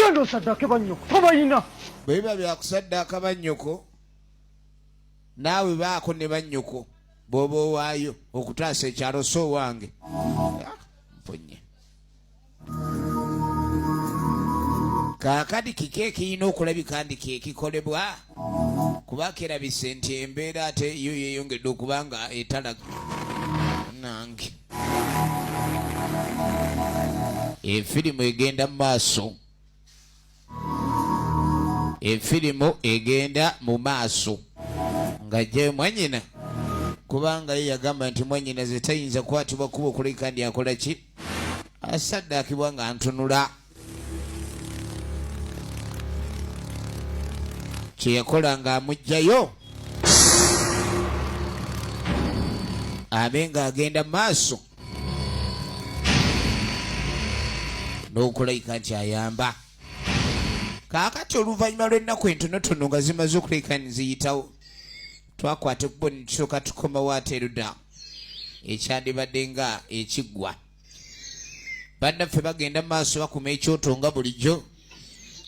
genda osaddaake bannyoko tobayina bwe biba byakusaddaaka bannyoko naawe baako ne bannyoko bwoba owaayo okutaasa ekyalo so owange mpunye kaakati kiki ekirina okulabika ndi kyekikolebwa kuba kerabise nti embeera ate yo yeyongedde okuba nga etalaga nange efirimu egenda mu maaso efirimu egenda mu maaso ng'ajjayo mwanyina kubanga ye yagamba nti mwanyina ze tayinza kwatibwa kuba okuleka ndi akola ki asaddaakibwa nga ntunula kye yakola ng'amuggyayo abe ng'agenda mu maaso n'okulayika nti ayamba kaakati oluvannyuma lw'ennaku entonotono nga zimaze okulayika niziyitawo twakwata ekkubo ne tusooka tukomawo ate eruda ekyandibadde nga ekiggwa bannaffe bagenda mu maaso bakuma ekyoto nga bulijjo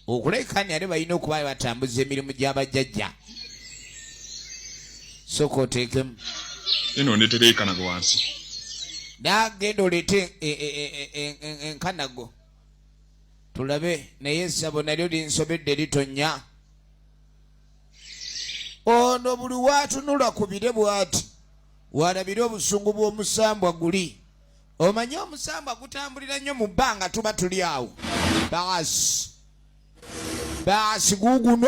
okulekaani ate balina okuba batambuza emirimu gy'abajjajja soka oteekemu eno ndetera ekanago wansi nagenda oleete e, e, e, enkanago tulabe naye esabo nalyo linsobedde litonnya ono buli watunula ku bire bwati walabire obusungu bw'omusambwa guli omanyi omusambwa gutambulira nnyo mu bbanga tuba tuli awo baasi baasi guguno